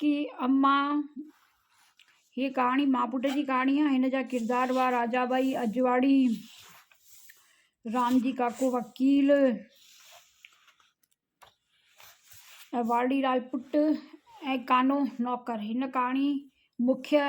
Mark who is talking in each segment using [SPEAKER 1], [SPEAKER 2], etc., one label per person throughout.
[SPEAKER 1] ڪي اما هيء ڪهاڻي ماء پٽ جي ڪهاڻي آهي هن جا ڪردار هئا راجا ٻائي اجواڙي رامجي ڪاڪو وڪيل ۽ واڙي لال پٽ ۽ ڪانو نوڪر هن ڪهاڻي مکيه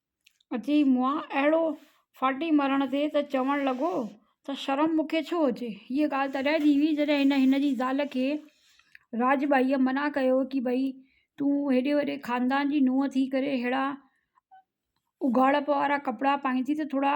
[SPEAKER 1] اچي مئا اهڙو ڦاٽي مرڻ تي ته چوڻ لڳو ته شرم مون کي ڇو هجي هيء ڳالهه تڏهن ٿي هئي جڏهن هن هن جي زال کي راڄ ٻائيء منع ڪيو هو ته ڀئي تون هيڏي وڏي خاندان جي نونهن ٿي ڪري ههڙا اگهاڙپ وارا ڪپڙا پائين ٿي ته ٿورا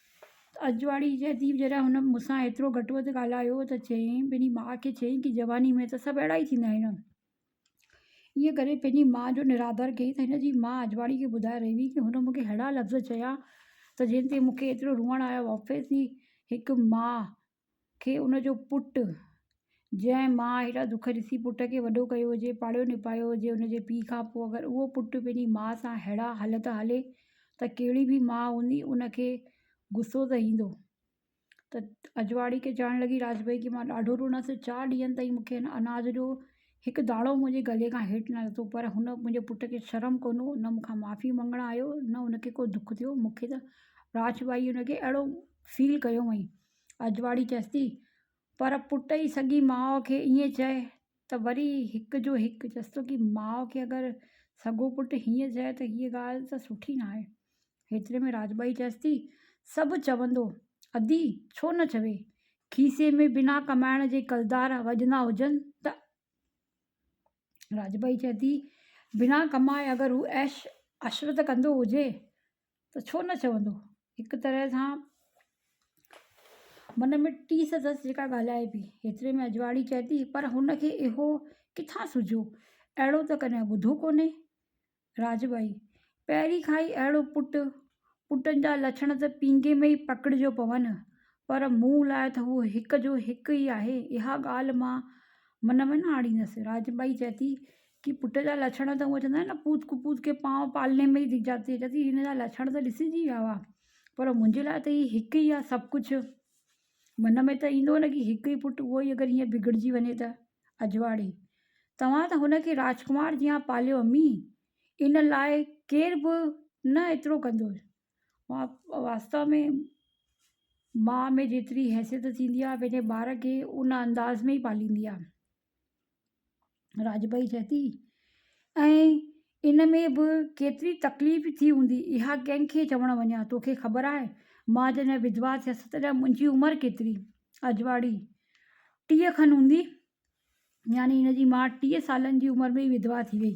[SPEAKER 1] اجواڙي جي اديب جڏهن هن مون سان ايترو گهٽ وڌ ڳالهايو ته چيائين پنهنجي ماء کي چيائين ته جواني ۾ ته سڀ اهڙا ئي ٿيندا آهن ائين ڪري پنهنجي ماء جو نرادر ڪيائين ته هن جي ماء اجواڙي کي ٻڌائي رهي هئي ته هن مونکي اهڙا لفظ چيا ته جنهن تي مونکي ايترو روئڻ آيو آفيس جي هڪ ماء کي ان جو پٽ جنهن ماء هيڏا دک ڏسي پٽ کي وڏو ڪيو هجي پاڙهيو نپايو هجي ان جي پي کان پوء اگر اهو پٽ پنهنجي ماء سان هيڙا هل ٿا هلي ته ڪهڙي به ماء هوندي ان کي غصو ته ايندو ته اجواڙي کي چوڻ لڳي راج ڀائي کي مان ڏاڍو روئڻس چار ڏينهن تائين مون کي اناج ڏيو هڪ داڙو منهنجي گلي کان هيٺ نه لٿو پر هن منهنجي پٽ کي شرم ڪونه هو نه مونکان معافي منگڻ آيو نه هن کي ڪو دک ٿيو مونکي ته راڇ ٻائي هن کي اهڙو فيل ڪيو هئائين اجواڙي چيس ٿي پر پٽ ئي سڳي ماء کي ائين چئي ته وري هڪ جو هڪ چيس ٿو ڪي ماء کي اگر سڳو پٽ هيئن چئي ته هيء ڳالهه ته سٺي ناهي هيتري ۾ راجٻائي چيس ٿي، سڀ چوندو، ادي ڇو نه چوي، کيسي ۾ بنا ڪمائڻ جي ڪلدار وڄندا هجن ته؟ راجٻائي چئي ٿي، بنا ڪمائي اگر هو عيش عشرت ڪندو هجي ته ڇو نه چوندو؟ هڪ طرح سان من ۾ ٽيس اٿس جيڪا ڳالهائي پئي. هيتري ۾ اجواڙي چئي ٿي، پر هن کي اهو ڪٿان سجهيو؟ اهڙو ته ڪڏهن ٻڌو ڪونهي. راجٻائي، پهرين کان ئي اهڙو پٽ، پٽن جا لڇڻ ته پينگهي ۾ ئي پڪڙجو پون، پر مون لاء ته هو هڪ جو هڪ ئي آهي، اها ڳالهه مان من ۾ نه آڻيندس. راجٻائي چئي ٿي ڪي پٽ جا لڇڻ ته هونئن چوندا آهن نه پوت ڪپوت ڪي پانء پالني مئي ديک جاتي هي، چئي ٿي هن جا لڇڻ ته ڏسجي ويا هئا، پر منهنجي لاء ته هي هڪ ئي آهي سڀ ڪجهه. من ۾ ته ايندو نه ڪي هڪ ئي پٽ اهو ئي اگر هيئن بگڙجي وڃي ته؟ اجواڙي، توهان ته هن کي راجڪمار جيان پاليو امي، ان لاء ڪير به نه ايترو ڪندو. واستو ۾ ماء ۾ جيتري حيثيت ٿيندي آهي پنهنجي ٻار کي ان انداز ۾ ئي پاليندي آهي. راجڀائي چئي ٿي ۽ ان ۾ به ڪيتري تڪليف ٿي هوندي اها ڪنهن کي چوڻ وڃان توکي خبر آهي مان جڏهن وڌوا ٿيس تڏهن منهنجي عمر ڪيتري اجواڙي ٽيهه کن هوندي يعني هن جي ماء ٽيهه سالن جي عمر ۾ وڌوا ٿي وئي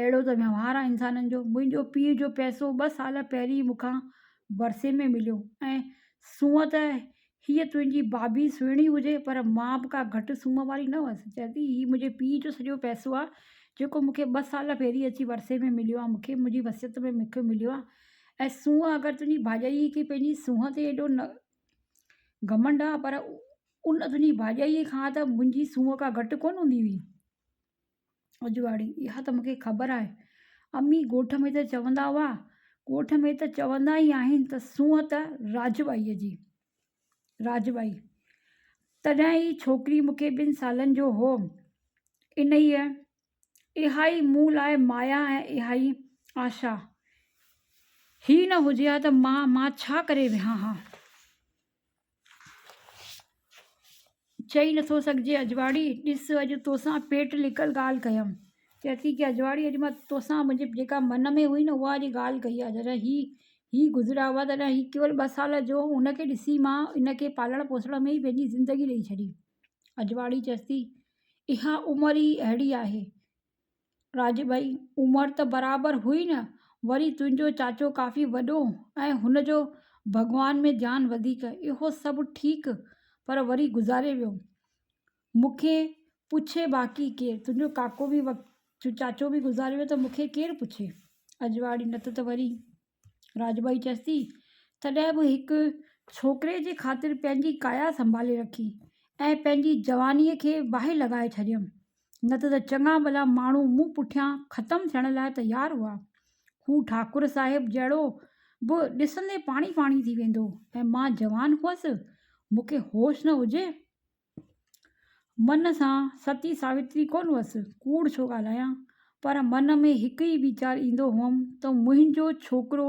[SPEAKER 1] اهڙو ته وهنوار آهي انسانن جو. منهنجو پيء جو پئسو ٻه سال پهرين مون کان ورثي ۾ مليو ۽ سونهن ته هيء تنهنجي بابي سهڻي هجي پر مان به ڪا گهٽ سونهن واري نه هئس. چئه ٿي هي منهنجي پيء جو سڄو پئسو آهي جيڪو مون کي ٻه سال پهرين اچي ورثي ۾ مليو آهي. مون کي منهنجي وصيت ۾ مون کي مليو آهي ۽ سونهن اگر تنهنجي ڀاڄائيء کي پنهنجي سونهن تي ايڏو نه گهمنڊ آهي پر ان تنهنجي ڀاڄائيء کان ته منهنجي سونهن ڪا گهٽ ڪونه هوندي هئي. اجواڙي، اها ته مون کي خبر آهي امي، ڳوٺ ۾ ته چوندا هئا. ڳوٺ ۾ ته چوندا ئي آهن ته سونهن ته راجٻائيء جي. راجٻائي، تڏهن هي ڇوڪري مون کي ٻن سالن جو هوم. انهيء، اها ئي مون لاء مايا ۽ اها ئي آشا. هي نه هجي ها ته مان مان ڇا ڪري ويهان ها. چئي نٿو سگهجي اجواڙي، ڏس اڄ توسان پيٽ لڪل ڳالهه ڪيم. چئي ٿي ڪي اجواڙي اڄ مان توسان منهنجي جيڪا من ۾ هئي نه اها اڄ ڳالهه ڪئي آهي. جڏهن هي هي گذريا هئا تڏهن هي ڪيول ٻه سال جو هو ان کي ڏسي مان ان کي پالڻ پوسڻ ۾ ئي پنهنجي زندگي ڏئي ڇڏي. اجواڙي چيس ٿي اها عمر ئي اهڙي آهي. راجڀائي، عمر ته برابر هئي نه، وري تنهنجو چاچو ڪافي وڏو ۽ هن جو ڀڳوان ۾ ڌيان وڌيڪ، اهو سڀ ٺيڪ، پر وري گذاري ويو. مون کي پڇي باقي ڪير؟ تنهنجو ڪاڪو به وقت جو چاچو به گذاري ويو ته مون کي ڪير پڇي؟ اجواڙي، نه ته وري. راڄ ٻائي چيسٿي، تڏهن به هڪ ڇوڪري جي خاطر پنهنجي ڪايا سنڀالي رکي ۽ پنهنجي جوانيء کي باهه لڳائي ڇڏيم، نه ته ته چڱا ڀلا ماڻهو مون پٺيان ختم ٿيڻ لاء تيار هئا. هو ٺاڪر صاحب جهڙو به ڏسندي پاڻي پاڻي ٿي ويندو ۽ مان جوان هئس، مون کي هوش نه هجي. من سان ستي ساوتري ڪونه هئس، ڪوڙ ڇو ڳالهايان، پر من ۾ هڪ ئي ويچار ايندو هئم ته منهنجو ڇوڪرو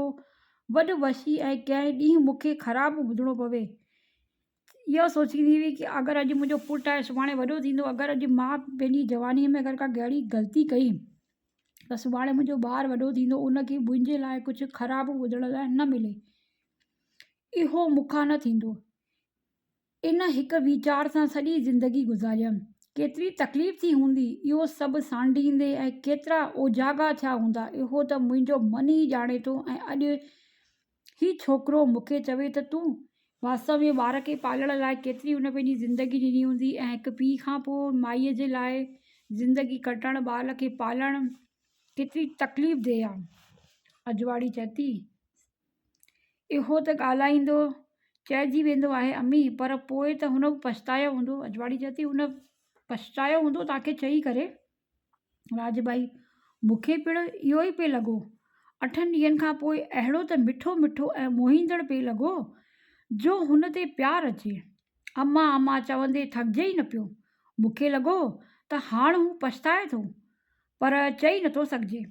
[SPEAKER 1] وڏ وشي ۽ ڪنهن ڏينهن مون کي خراب ٻڌڻو پوي. اها سوچيندي هئي ته اگر اڄ منهنجو پٽ آهي سڀاڻي وڏو ٿيندو، اگر اڄ مان پنهنجي جوانيء ۾ اگر ڪا ڪهڙي غلطي ڪئي ته سڀاڻي منهنجو ٻار وڏو ٿيندو ان کي منهنجي لاء ڪجهه خراب ٻڌڻ لاء نه ملي. اهو مون کان نه ٿيندو. ان هڪ ويچار سان سڄي زندگي گذاريم. ڪيتري تڪليف ٿي هوندي، اهو سڀ سانڍيندي ۽ ڪيترا اوجاڳا ٿيا هوندا، اهو ته منهنجو من ئي ڄاڻي ٿو ۽ اڄ هي ڇوڪرو مون کي چوي ته تون. واستو ۾ ٻار کي پالڻ لاء ڪيتري هن پنهنجي زندگي ڏني هوندي ۽ هڪ پيء کان پوء مائيء جي لاء زندگي ڪٽڻ، ٻار کي پالڻ ڪيتري تڪليف دهه آ. اجواڙي چئي ٿي، اهو ته ڳالهائيندو چئجي ويندو آهي امي پر پوء ته هن به پڇتايو هوندو اجواڙي چئي ٿي هن پڇتايو هوندو تاکي چئي ڪري راج ڀائي مونکي پڻ اهو ئي پئي لڳو اٺن ڏينهن کان پوء اهڙو ته مٺو مٺو ۽ موهيندڙ پئي لڳو جو هن تي پيار اچي اما اما چوندي ٿڪجي ئي نه پيو مونکي لڳو ته هاڻ هو پڇتائي ٿو پر چئي نٿو سگهجي.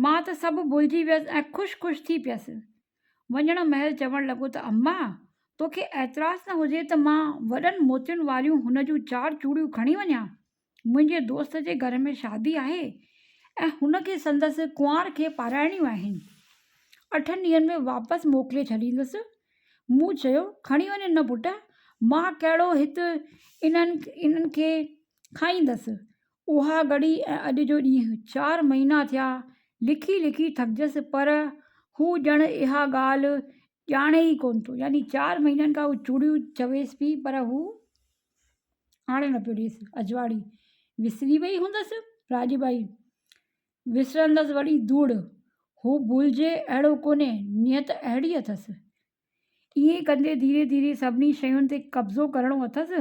[SPEAKER 1] مان ته سڀ ڀلجي ويس ۽ خوش خوش ٿي پيس. وڃڻ مهل چوڻ لڳو ته اما! توکي اعتراض نه هجي ته مان وڏن موتين واريون هن جون چار چوڙيون کڻي وڃان؟ منهنجي دوست جي گهر ۾ شادي آهي ۽ هن کي سندس ڪنوار کي پارائڻيون آهن. اٺن ڏينهن ۾ واپس موڪلي ڇڏيندس. مون چيو، کڻي وڃ نه پٽ، مان ڪهڙو هت انهن کي کائيندس. اها گهڙي ۽ اڄ جو ڏينهن چار مهينا ٿيا، لکي لکي ٿڪجس پر هو ڄڻ اها ڳالهه ڄاڻي ئي ڪونه ٿو. يعني چار مهينن کان هو چوڙيون چويس پئي پر هو آڻي نه پيو ڏيس. اجواڙي وسري وئي هوندس راڄ ٻائي، وسرندس وڙي ڌوڙ. هو ڀلجي اهڙو ڪونهي، نيت اهڙي اٿس. ائين ڪندي ڌيري ڌيري سڀني شين تي قبضو ڪرڻو اٿس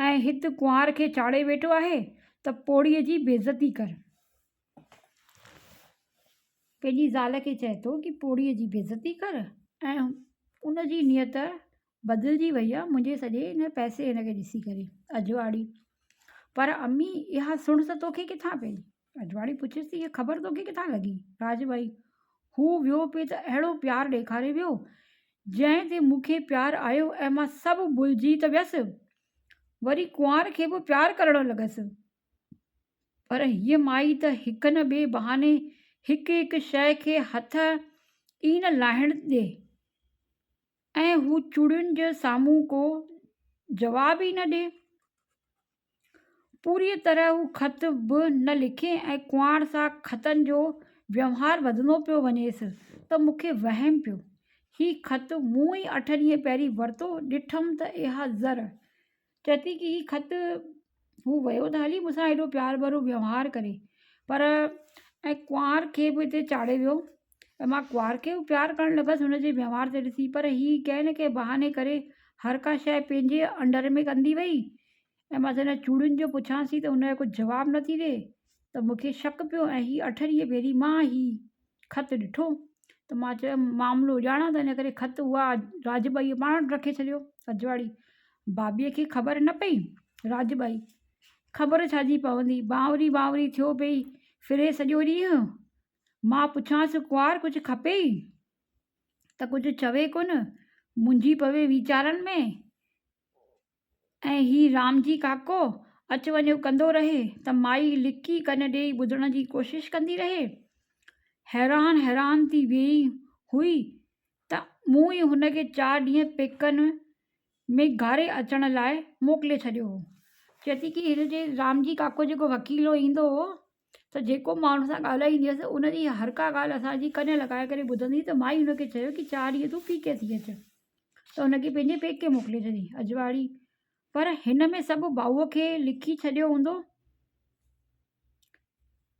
[SPEAKER 1] ۽ هت ڪنوار کي چاڙهي ويٺو آهي ته پوڙهي جي بيعزتي ڪر. پنهنجي زال کي چئي ٿو ڪي پوڙهي جي بيعزتي ڪر ۽ ان جي نيت بدلجي وئي آهي منهنجي سڄي ان پئسي هن کي ڏسي ڪري اجواڙي پر امي اها سڻس توکي ڪٿان پئي رجواڙي پڇيس ته اها خبر توکي ڪٿان لڳي؟ راڄ ڀائي، هو ويو پئي ته اهڙو پيار ڏيکاري ويو، جنهن تي مون کي پيار آيو ۽ مان سڀ ڀلجي ته ويس. وري ڪنوار کي به پيار ڪرڻ لڳس. پر هيء مائي ته هڪ نه ٻئي بهاني هڪ هڪ شيء کي هٿ ئي نه لاهڻ ڏي ۽ هو چوڙين جي سامهون ڪو جواب ئي نه ڏي. پوريء طرح هو خط به نه لکي ۽ ڪنوار سان خطن جو ويوهار وڌندو پيو وڃيس ته مون کي وهم پيو. هي خط مون ئي اٺ ڏينهن پهرين ورتو، ڏٺم ته اها زر، چئي ٿي ته هي خط هو ويو ته هلي مون سان ايڏو پيار ڀرو ويوهار ڪري، پر ۽ ڪنوار کي به هتي چاڙهي ويو. ته مان ڪنوار کي به پيار ڪرڻ لڳس هن جي وهنوار کي ڏسي پر هي ڪنهن نه ڪنهن بهاني ڪري هر ڪا شيء پنهنجي انڊر ۾ ڪندي وئي ۽ بس هن چوڙين جو پڇانس ٿي ته هن جو ڪجهه جواب نه ٿي ڏي ته مون کي شڪ پيو ۽ هي اٺريهه ڀيري مان هي خط ڏٺو ته مان چيم معاملو ڄاڻان ته ان ڪري خط اها راڄ ٻائيء پاڻ وٽ رکي ڇڏيو رجواڙي بابيء کي خبر نه پئي راڄ ٻائي خبر ڇا جي پوندي بانوري بانوري ٿيو پئي ڦري سڄو ڏينهن مان پڇانس ڪنوار ڪجهه کپي ئي ته ڪجهه چوي ڪونه منجهي پوي ويچارن ۾ ۽ هي رامجي ڪاڪو اچ وڃو ڪندو رهي ته مائي لڪي ڪن ڏئي ٻڌڻ جي ڪوشش ڪندي رهي حيران حيران ٿي ويئي هئي ته مون ئي هن کي چار ڏينهن پيڪن ۾ گهاري اچڻ لاء موڪلي ڇڏيو هو چئي ٿي ڪي هن جي رامجي ڪاڪو جيڪو وڪيلو ايندو هو ته جيڪو ماڻهن سان ڳالهائيندي هيس، ان جي هر ڪا ڳالهه اسان جي ڪن لڳائي ڪري ٻڌندي هئي ته مائي هن کي چيو ڪي چار ڏينهن تون پيڪي ٿي اچ ته هن کي پنهنجي پيڪي موڪلي ڇڏي. اجواڙي، پر هن ۾ سڀ ڀائوء کي لکي ڇڏيو هوندو؟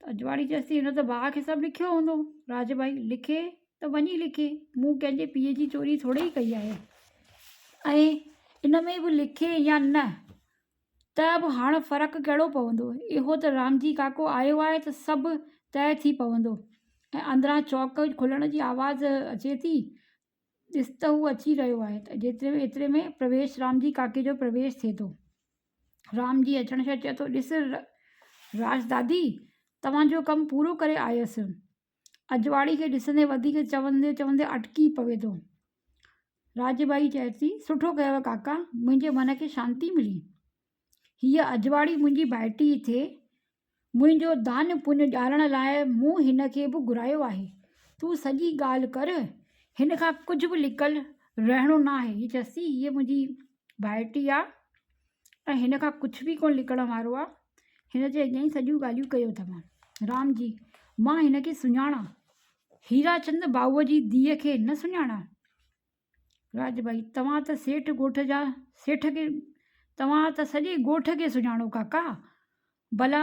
[SPEAKER 1] ته اجواڙي چيس ٿي هن ته ڀاء کي سڀ لکيو هوندو. راجڀائي، لکي ته وڃي لکي، مون ڪنهن جي پيء جي چوري ٿورڙي ڪئي آهي. ۽ ان ۾ به لکي يا نه، ته به هاڻ فرق ڪهڙو پوندو؟ اهو ته رامجي ڪاڪو آيو آهي ته سڀ طئي ٿي پوندو. ۽ اندران چوڪ کلڻ جي آواز اچي ٿي. ڏس ته هو اچي رهيو آهي. جيتري ۾ ايتري ۾ پرويش رامجي ڪاڪي جو پرويش ٿئي ٿو. رامجي اچڻ سان چئي ٿو، ڏس راشدادي توهان جو ڪم پورو ڪري آيس. اجواڙي کي ڏسندي وڌيڪ چوندي چوندي اٽڪي پوي ٿو. راڄ ٻائي چئي ٿي، سٺو ڪيوء ڪاڪا، منهنجي من کي شانتي ملي. هيء اجواڙي منهنجي ڀائٽي ئي ٿئي. منهنجو دان پڃ ڄارڻ لاء مون هن کي به گهرايو آهي. تون سڄي ڳالهه ڪر، هن کان ڪجهه به لڪل رهڻو ناهي. هيء چيس ٿي، هيء منهنجي ڀائٽي آ، ۽ هن کان ڪجهه به ڪونه لڪڻ وارو آهي. هن جي اڳيان ئي سڄيون ڳالهيون ڪيون اٿم. رام جي، مان هن کي سڃاڻان. هيراچند ڀائوء جي ڌيء کي نه سڃاڻان؟ راڄ ڀائي، توهان ته سيٺ ڳوٺ جا سيٺ کي توهان ته سڄي ڳوٺ کي سڃاڻو ڪاڪا. ڀلا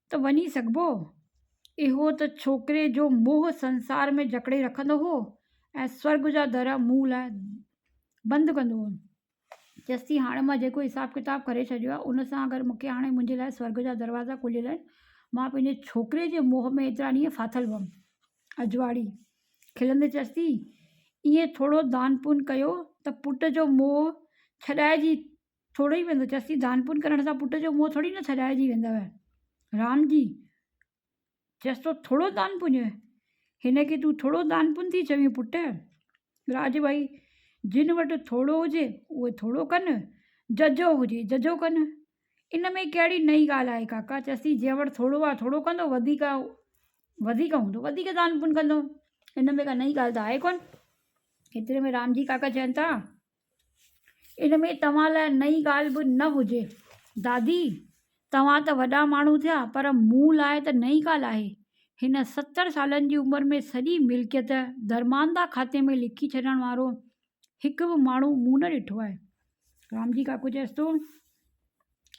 [SPEAKER 1] ته وڃي سگهبو. اهو ته ڇوڪري جو موهه سنسار ۾ جڪڙي رکندو هو ۽ سورڳ جا در مون لاء بند ڪندو هو. چيس ٿي هاڻي مان جيڪو حساب ڪتاب ڪري ڇڏيو آهي، ان سان اگر مون کي هاڻي منهنجي لاء سورڳ جا دروازا کليل آهن. مان پنهنجي ڇوڪري جي موهه ۾ ايترا ڏينهن ڦاٿل هئم. اجواڙي، کلندي چيس ٿي، ايئن ٿورو دان پڃ ڪيو ته پٽ جو موهه ڇڏائجي ٿورو ئي ويندو، چيس ٿي، دان پون ڪرڻ سان پٽ جو منهن ٿوري نه ٿڏائجي ويندوء. رام جي چيس ٿو، ٿورو دان پونج؟ هن کي تون ٿورو دان پون ٿي چوين پٽ؟ راج ڀائي، جن وٽ ٿورو هجي، اهي ٿورو ڪن، ججهو هجي، ججهو ڪن. ان ۾ ڪهڙي نئين ڳالهه آهي ڪاڪا؟ چيس ٿي، جنهن وٽ ٿورو آهي، ٿورو ڪندو، وڌيڪ آهي، وڌيڪ هوندو، وڌيڪ دان پون ڪندو. ان ۾ ڪا نئين ڳالهه ته آهي ڪونه. ايتري ۾ رام جي ڪاڪا چين ٿا، ان ۾ توهان لاء نئين ڳالهه به نه هجي. دادي، توهان ته وڏا ماڻهو ٿيا پر مون لاء ته نئين ڳالهه آهي. هن ستر سالن جي عمر ۾ سڄي ملڪيت درمانده کاتي ۾ لکي ڇڏڻ وارو هڪ به ماڻهو مون نه ڏٺو آهي. رامجي ڪاڪو چيس ٿو،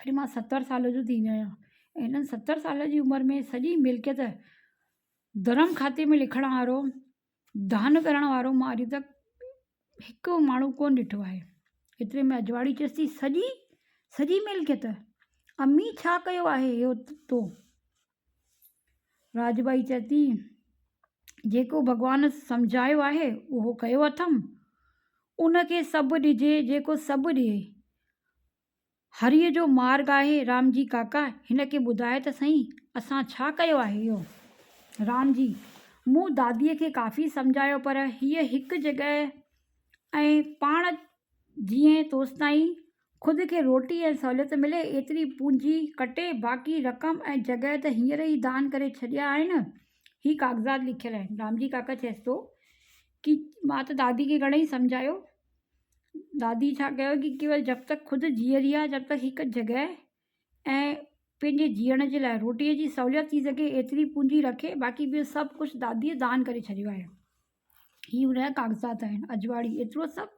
[SPEAKER 1] اڄ مان ستر سال جو ٿي ويو آهيان ۽ هنن ستر سالن جي عمر ۾ سڄي ملڪيت درم کاتي ۾ لکڻ وارو دانهن ڪرڻ وارو مان اڄ تڪ هڪ ماڻهو ڪونه ڏٺو آهي ايتري ۾ اجواڙي چيس ٿي سڄي سڄي ميل کي ته امي ڇا ڪيو آهي اهو تو راج ٻائي چئي ٿي جيڪو ڀڳوان سمجهايو آهي اهو ڪيو اٿم ان کي سڀ ڏجي جيڪو سڀ ڏئي هريء جو مارگ آهي. رام جي ڪاڪا! هن کي ٻڌاء ته سهين، اسان ڇا ڪيو آهي اهو؟ رام جي، مون داديء کي ڪافي سمجهايو پر هيء هڪ جڳهه ۽ پاڻ جيئن توستائين خود کي روٽي ۽ سهوليت ملي ايتري پونجي ڪٽي، باقي رقم ۽ جڳهه ته هينئر ئي دان ڪري ڇڏيا آهن. هي ڪاغذات لکيل آهن. رام جي ڪاڪا چيس ٿو ڪي مان ته داديء کي گهڻئي سمجهايو دادي ڇا ڪيو ڪي ڪيول جب تڪ خود جيئري آهي جب تڪ هڪ جڳهه ۽ پنهنجي جيئڻ جي لاء روٽيء جي سهولت ٿي سگهي ايتري پونجي رکي باقي ٻيو سڀ ڪجهه داديء دان ڪري ڇڏيو آهي هي ان جا ڪاغذات آهن اجواڙي ايترو سڀ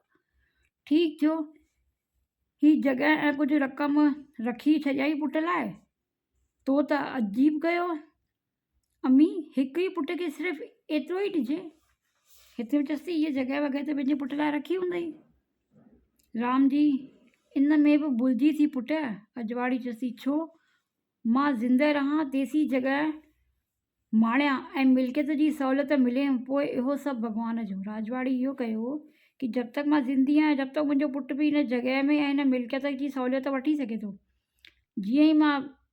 [SPEAKER 1] ٺيڪ ٿيو هي جڳهه ۽ ڪجهه رقم رکي ڇڏيائين پٽ لاء تو ته عجيب ڪيو امي هڪ ئي پٽ کي صرف ايترو ئي ڏجي هتي به چيس ٿي هي جڳهه وڳهه ته پنهنجي پٽ لاء رکي هوندئي رام جي ان ۾ به ڀلجي ٿي پٽ اجواڙي چيس ٿي ڇو مان زندهه رهان تيسين جڳهه ماڻيان ۽ ملڪيت جي سهولت ملي پوء اهو سڀ ڀڳوان جو راجواڙي اهو ڪيو هو ڪي جب تڪ مان زندي آهيان جب تڪ منهنجو پٽ به هن جڳهه ۾ ۽ هن ملڪيت جي سهولت وٺي سگهي ٿو جيئن ئي مان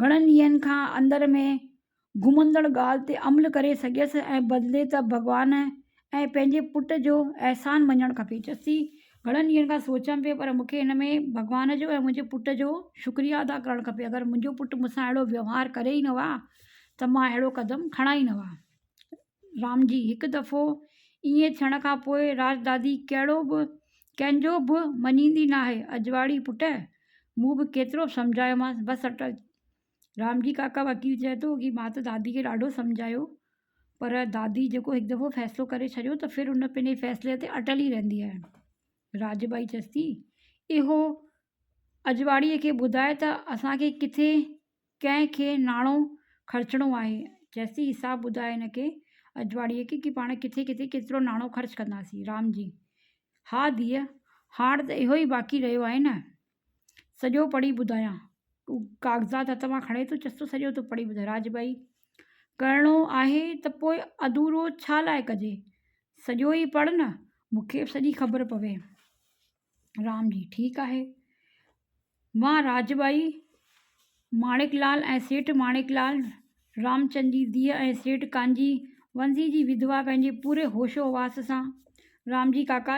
[SPEAKER 1] گهڻن ڏينهن کان اندر ۾ گهمندڙ ڳالهه تي عمل ڪري سگهيس ۽ بدلي ته ڀڳوان ۽ پنهنجي پٽ جو احسان مڃڻ کپي. چيس ٿي، گهڻن ڏينهن کان سوچيم پئي پر مون کي هن ۾ ڀڳوان جو ۽ منهنجي پٽ جو شڪريه ادا ڪرڻ کپي. اگر منهنجو پٽ مون سان اهڙو ويوهار ڪري ئي نه ها ته مان اهڙو قدم کڻان ئي نه ها. رامجي، هڪ دفعو ائين ٿيڻ کان پوء راجدادي ڪهڙو به ڪنهن جو به مڃيندي ناهي. اجواڙي پٽ، مون به ڪيترو به سمجهايومانس، بس اٽل. رامجي ڪاڪا وڪيل چئي ٿو ڪي مان ته دادي کي ڏاڍو سمجهايو پر دادي جيڪو هڪ دفعو فيصلو ڪري ڇڏيو ته ڦر ان پنهنجي فيصلي تي اٽل ئي رهندي آهي. راج ٻائي چيس ٿي، اهو اجواڙي کي ٻڌاء ته اسان کي ڪٿي ڪنهن کي ناڻو خرچڻو آهي چيسي حساب ٻڌاء هن کي اجواڙيء کي ڪي پاڻ ڪٿي ڪٿي ڪيترو ناڻو خرچ ڪنداسين. رام جي، ها ڌيء، هاڻ ته اهو ئي باقي رهيو آهي نه؟ سڄو پڙهي ٻڌايان؟ هو ڪاغذات هٿ مان کڻي ٿو چيس ٿو سڄو ته پڙهي ٻڌاء. راج ڀائي، ڪرڻو آهي ته پوء اڌورو ڇا لاء ڪجي؟ سڄو ئي پڙهه نه، مون کي به سڄي خبر پوي. رام جي، ٺيڪ آهي. وان راج ٻائي، ماڻڪ لال ۽ سيٺ ماڻڪ لال، رامچند جي ڌيء ۽ سيٺ ڪانجي ونزي جي وڌوا پنهنجي پوري هوش و حواس سان رام جي ڪاڪا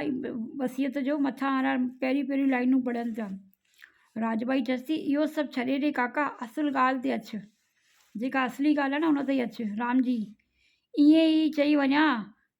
[SPEAKER 1] وصيت جو مٿان وارا پهريون پهريون لائينون پڙهن پيا. راج ٻائي چيس ٿي، اهو سڀ ڇڏي ڏي ڪاڪا، اصل ڳالهه تي اچ. جيڪا اصلي ڳالهه آهي نه ان تي اچ. رام جي، ائين ئي چئي وڃان،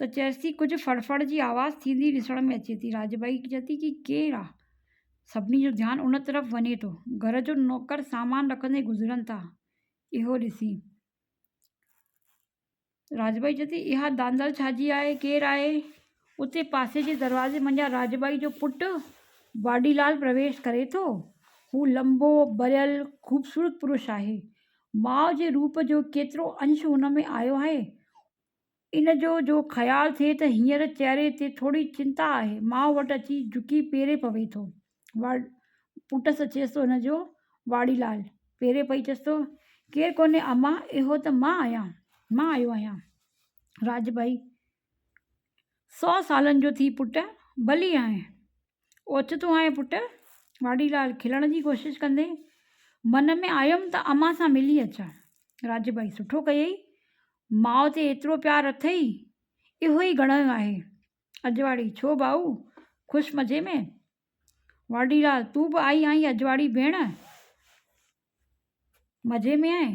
[SPEAKER 1] ته چيس ٿي ڪجهه ڦڙ ڦڙ جي آواز ٿيندي ڏسڻ ۾ اچي ٿي. راڄ ٻائي چئي ٿي هي ڪير آ؟ سڀني جو ڌيان ان طرف وڃي ٿو. گهر جو نوڪر سامان رکندي گذرن ٿا اهو ڏسي. راڄ ٻائي چئي ٿي اها دانڌل ڇا جي آهي؟ ڪير آهي؟ اتي پاسي جي دروازي منجهان راڄ ٻائي جو پٽ باڊي لال پرويش ڪري ٿو. هو لنبو، ٻريل، خوبصورت پرش آهي. ماء جي روپ جو ڪيترو انش هن ۾ آيو آهي ان جو جو خيال ٿئي ته هينئر چهري تي ٿوري چنتا آهي، ماء وٽ اچي جهڪي پيري پوي ٿو. واڙ پٽس اچيس ٿو ان جو واڙي لال پيري پئي چيس ٿو، ڪير ڪونهي اما، اهو ته مان آهيان، مان آيو آهيان. راڄ ڀائي، سؤ سالن جو ٿي پٽ، ڀلي آهين. اوچتو آهي پٽ! واڍي لال کلڻ جي ڪوشش ڪندي من ۾ آيم ته امان سان ملي اچان. راڄ ڀائي سٺو ڪيئي. ماء تي ايترو پيار اٿئي، اهو ئي گهڻو آهي. اجواڙي، ڇو ڀائو، خوش مزي ۾؟ واڍي لال، تون به آئي آهين اجواڙي ڀيڻ! مزي ۾ آهين؟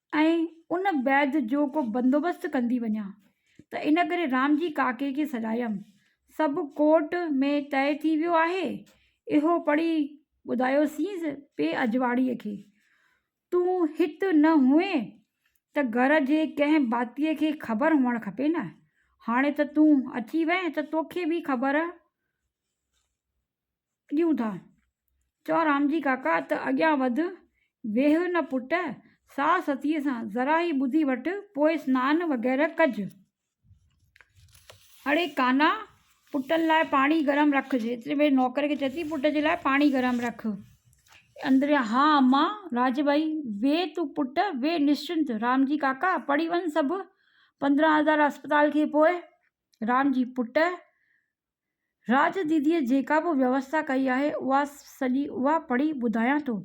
[SPEAKER 1] ۽ ان بيد جو ڪو بندوبست ڪندي وڃان ته ان ڪري رام جي ڪاڪي کي سڏايم سڀ ڪورٽ ۾ طئي ٿي ويو آهي اهو پڙهي ٻڌايوسينس پي اجواڙي کي تون هت نه هئين ته گهر جي ڪنهن ڀاتي کي خبر هئڻ کپي نه هاڻي ته تون اچي وئين ته توکي به خبر ڏيون ٿا. چؤ رامجي ڪاڪا ته اڳيان وڌ، ويهه نه پٽ، ساهه ستيء سان ذرا ئي ٻڌي وٺ، پوء سنان وغيره ڪج. اڙي ڪانا، پٽن لاء پاڻي گرم رک. ايتري ۾ نوڪر کي چئي ٿي، پٽ جي لاء پاڻي گرم رک. اندريان، ها امان. راجه ڀائي، ويهه تون پٽ، ويهه نشچنت. رامجي ڪاڪا، پڙهي وڃ سڀ پندرهن هزار اسپتال کي پوء. رامجي، پٽ! راڄ ديديء جيڪا به ويوسٿا ڪئي آهي، اها سڄي اها پڙهي ٻڌايان ٿو.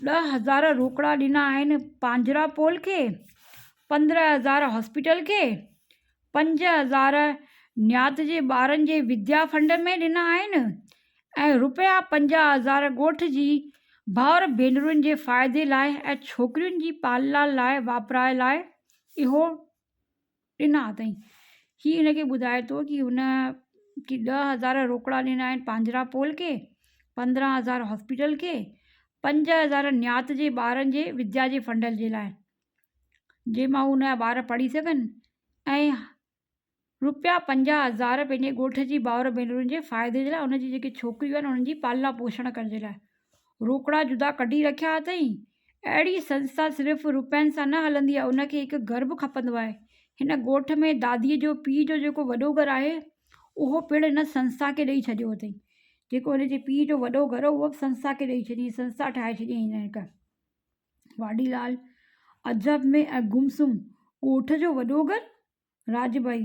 [SPEAKER 1] ڏهه هزار روڪڙا ڏنا آهن پانجراپول کي، پندرهن هزار هاسپيٽل کي، پنج هزار نيات جي ٻارن جي وديا فنڊ ۾ ڏنا آهن ۽ رپيا پنجاهه هزار ڳوٺ جي ڀائر ڀينرن جي فائدي لاء ۽ ڇوڪرين جي پالنا لاء واپرائي لاء اهو ڏنا اٿئين. هي هن کي ٻڌائي ٿو ته هن کي ڏهه هزار روڪڙا ڏنا آهن پانجرا پول کي، پندرهن هزار هاسپيٽل کي، پنج هزار نيات جي ٻارن جي وديا جي فنڊ جي لاء جنهن مان هن جا ٻار پڙهي سگهن ۽ روپيا پنجاهه هزار پنهنجي ڳوٺ جي ڀائر ڀينرن جي فائدي جي لاء ان جي جيڪي ڇوڪريون آهن انهن جي پالنا پوشڻ ڪرڻ جي لاء روڪڙا جدا ڪڍي رکيا اٿئين. اهڙي سنسٿا صرف روپين سان نه هلندي آهي، ان کي هڪ گهر به کپندو آهي. هن ڳوٺ ۾ داديء جو پيء جو جيڪو وڏو گهر آهي، اهو پڻ هن سنسٿا کي ڏئي ڇڏيو اٿئين. جيڪو هن جي پيء جو وڏو گهر هو، اهو به سنسٿا کي ڏئي ڇڏيائين. سنسٿا ٺاهي ڇڏيائين هن هڪ. واڍيلال، عجب ۾ ۽ گم سم، ڳوٺ جو وڏو گهر؟ راڄ ڀائي،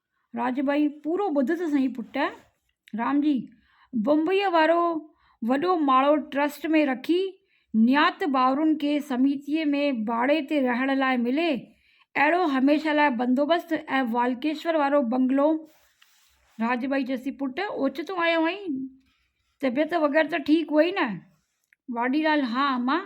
[SPEAKER 1] راڄ ٻئي، پورو ٻڌ ته سهين پٽ! رام جي، بمبئيء وارو وڏو ماڙو ٽرسٽ ۾ رکي، نيات ڀائرن کي سميتيء ۾ ڀاڙي تي رهڻ لاء ملي، اهڙو هميشه لاء بندوبست ۽ والڪيشور وارو بنگلو. راڄ ٻئي چيس ٿي، پٽ! اوچتو آيو آهين؟ طبيعت وغيره ته ٺيڪ هئي نه؟ واڏيلال، ها امان!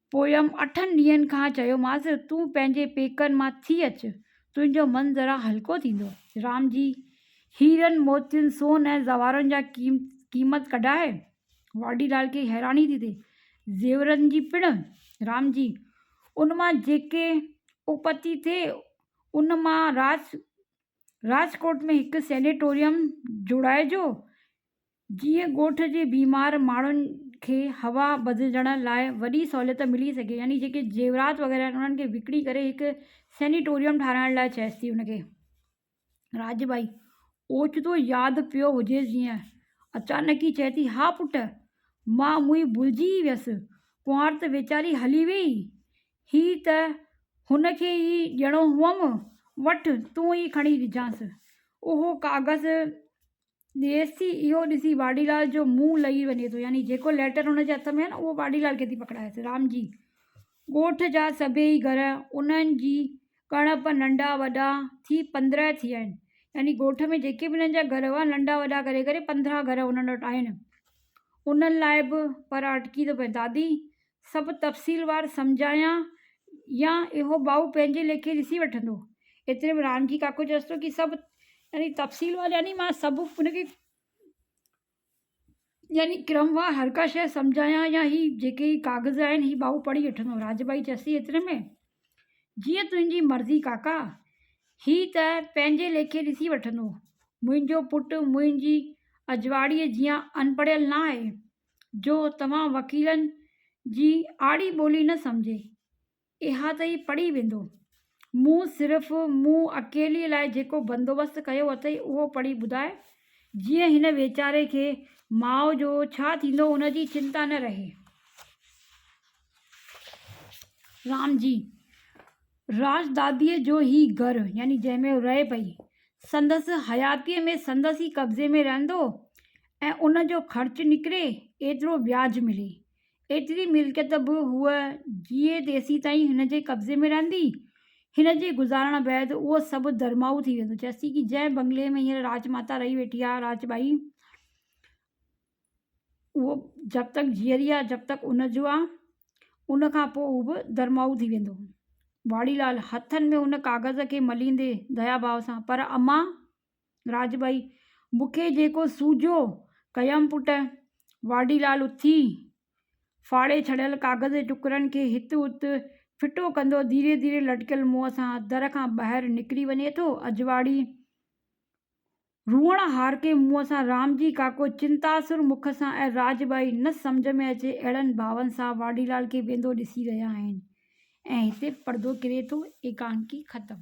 [SPEAKER 1] پويم اٺن ڏينهن کان چيومانس تون پنهنجي پيڪن مان ٿي اچ، تنهنجو من ذرا هلڪو ٿيندو. رام جي هيرن، موتين، سون ۽ زوارن جا قيمت ڪڍائي. واڍيلال کي حيراني ٿي ٿئي. زيورن جي پڻ؟ رام جي ان مان جيڪي اپتي ٿئي ان مان راج راجڪوٽ ۾ هڪ سينيٽوريم جوڙائجو. جيئن ڳوٺ جي بيمار ماڻهن کي هوا بدلجڻ لاء وڏي سهوليت ملي سگهي يعني جيڪي زيورات وغيره آهن انهن کي وڪڻي ڪري هڪ سينيٽوريم ٺاهرائڻ لاء چيس ٿي ان کي راڄ ٻائي اوچتو ياد پيو هجيس جيئن اچانڪ ئي چئي ٿي ها پٽ مان موئي ڀلجي ئي ويس ڪنوار ته ويچاري هلي ويئي هي ته هن کي ئي ڏيڻو هئم وٺ تون ئي کڻي ڏجانس اهو ڪاغذ ديس ٿي اهو ڏسي واڍيلال جو منهن لهي وڃي ٿو يعني جيڪو ليٽر هن جي هٿ ۾ آهي نه اهو واڍيلال کي ٿي پڪڙائيس رام جي ڳوٺ جا سڀيئي گهر انهن جي ڪڻپ ننڍا وڏا ٿي پندرهن ٿيا آهن يعني ڳوٺ ۾ جيڪي به انهن جا گهر هئا ننڍا وڏا ڪري ڪري پندرهن گهر انهن وٽ آهن انهن لاء به پر اٽڪي ٿو پئي دادي سڀ تفصيلوار سمجهايان يا اهو ٻائو پنهنجي ليکي ڏسي وٺندو. ايتري ۾ رانجهي ڪاڪو چيس ٿو ڪي سڀ يعني تفصيلوار يعني مان سڀ ان کي يعني ڪرموار هر ڪا شيء سمجهايان يا هي جيڪي هي ڪاغذ آهن هي ٻائو پڙهي وٺندو. رانجهي ٻائي چيس ٿي ايتري ۾ جيئن تنهنجي مرضي ڪاڪا هي ته پنهنجي ليکي ڏسي وٺندو. منهنجو پٽ منهنجي اجواڙيء جيان اڻپڙهيل ناهي. جو توهان وڪيلن جي آڙي ٻولي نه سمجهي اها ته هي پڙهي ويندو. مون صرف مون اڪيلي لاء جيڪو بندوبست ڪيو اٿئي اهو پڙهي ٻڌاء جيئن هن ويچاري کي ماء جو ڇا ٿيندو ان جي چنتا نه رهي. رام جي، راجداديء جو هي گهر، يعني جنهن ۾ هو رهي پئي، سندس حياتيء ۾ سندس ئي قبضي ۾ رهندو ۽ ان جو خرچ نڪري، ايترو وياج ملي. ايتري ملڪيت به هوء جيئي تيسين تائين هن جي قبضي ۾ رهندي. هن جي گذارڻ بعد اهو سڀ درماهو ٿي ويندو. چيسين جنهن بنگلي ۾ هينئر راجماتا رهي ويٺي آهي، راجٻائي، اهو جب تڪ جيئري آ جب تڪ ان جو آ ان کان پوء هو به درمائو ٿي ويندو. واڙي لال، هٿن ۾ ان ڪاغذ کي مليندي ديا ڀاء سان، پر امان! راڄ ٻائي، مون کي جيڪو سوجهيو ڪيم پٽ. واڙي لال اٿي ڦاڙي ڇڏيل ڪاغذ جي ٽڪرن کي هت هت ڦٽو ڪندو ڌيري ڌيري لٽڪيل منهن سان در کان ٻاهر نڪري وڃي ٿو. اجواڙي. روئڻ هار ڪي منهن سان رام جي ڪاڪو چنتاسر مک سان ۽ راج ٻائي نه سمجهه ۾ اچي اهڙن ڀاون سان واڍيلال کي ويندو ڏسي رهيا آهن ۽ هتي پڙدو ڪري ٿو ايڪانڪي ختم.